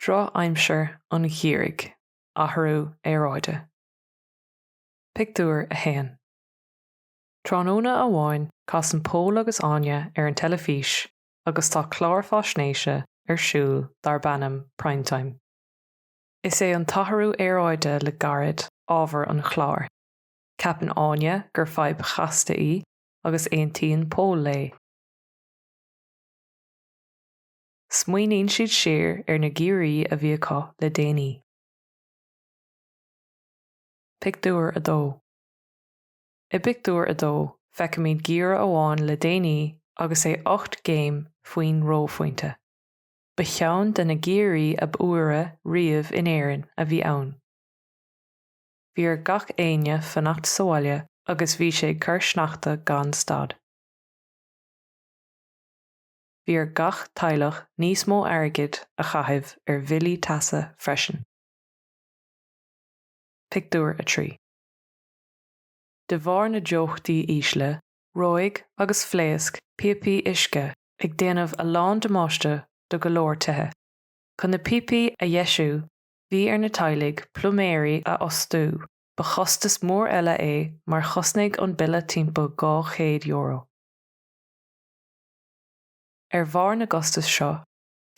Drochaimsir an gheimhridh, athrú aeráide. Pictiúr 1 Tráthnóna amháin casann Pól agus Áine ar an teilifís agus tá clár faisnéise ar siúl darb ainm Primetime. Is é an t-athrú aeráide le gairid ábhar an chláir. Ceapann Áine gur fadhb chasta í agus aontaíonn Pól léi. Smaoiníonn siad siar ar na geimhrí a bhí acu le déanaí. Pictiúr 2 I bpictiúr a dó, feicimid geimhreadh amháin le déanaí agus é ocht gcéim faoin reophointe. Ba cheann de na geimhrí ab fhuaire riamh in Éirinn a bhí ann. Bhí ar gach éinne fanacht sa bhaile agus bhí sé ag cur sneachta gan stad. Bhí ar gach teaghlach níos mó airgid a chaitheamh ar bhillí teasa freisin. Pictiúr 3. De bharr na dteochtaí ísle, reoigh agus phléasc píopaí uisce ag déanamh a lán damáiste do go leor tithe. Chun na píopaí a dheisiú, Bhí ar na teaghlaigh pluiméirí a fhostú, ba chostas mór eile é mar chosnaigh an bille timpeall €200. Ar bharr na gcostas seo,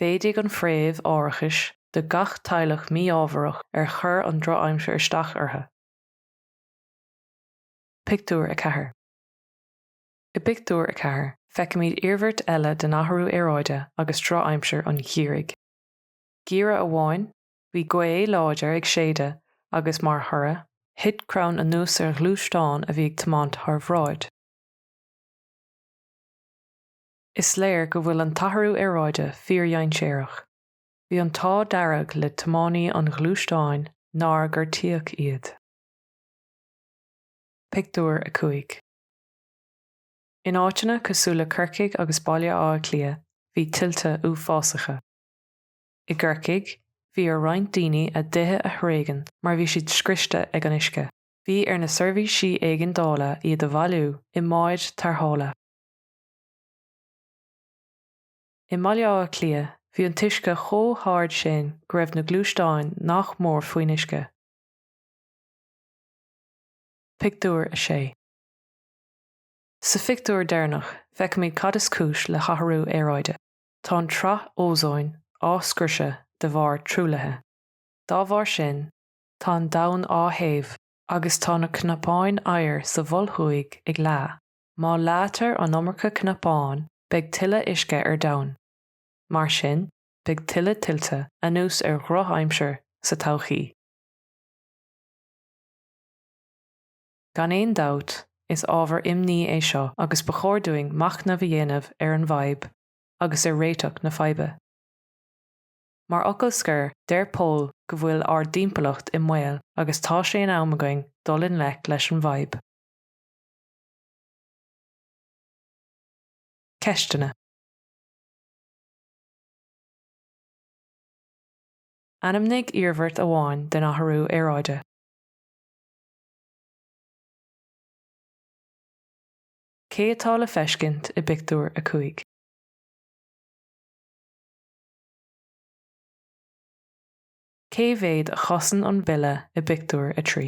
mhéadaigh an phréimh árachais do gach teaghlach mí-ámharach ar chuir an drochaimsir isteach orthu. Pictiúr 4 I bpictiúr a ceathair, feicimid iarmhairt eile den athrú aeráide agus drochaimsir an gheimhridh. Geimhreadh amháin, bhí gaoth láidir ag séideadh agus mar thoradh, thit crann anuas ar ghluaisteán a bhí ag tiomáint thar bhráid. Is léir go bhfuil an t-athrú aeráide fíordhainséarach. Bhí an t-ádh dearg le tiománaí an ghluaisteáin nár gortaíodh iad. Pictiúr 5 In áiteanna cosúil le Corcaigh agus Baile Átha Cliath, bhí tuilte uafásacha. I gCorcaigh, bhí ar roinnt daoine a dtithe a thréigean mar bhí siad scriosta ag an uisce. Bhí ar na seirbhísí éigeandála iad a bhailiú i mbáid tarrthála. I mBaile Átha Cliath, bhí an t-uisce chomh hard sin go raibh na gluaisteáin nach mór faoin uisce. Pictiúr 6 Sa phictiúr deireanach, feicimid cad is cúis le hathrú aeráide. Tá an tsraith ózóin á scriosadh de bharr truaillithe. Dá bharr sin, tá an domhan á théamh agus tá na cnapáin oighir sa Mhol Thuaidh ag leá. Má leáitear an iomarca cnapán, beidh tuilleadh uisce ar domhan. Mar sin, beidh tuilleadh tuilte, anuas ar dhrochaimsir, sa todhchaí. Gan aon dabht, is ábhar imní é seo agus ba chóir dúinn machnamh a dhéanamh ar an bhfadhb agus ar réiteach na faidhbe. Mar fhocal scoir, deir Pól go bhfuil ár dtimpeallacht i mbaol agus tá sé in am againn dul i ngleic leis an bhfadhb. Ceisteanna. Ainmnigh iarmhairt amháin den athrú aeráide. Cé atá le feiscint i bpictiúr a cúig? Cé mhéad a chosain an bille i bpictiúr a trí?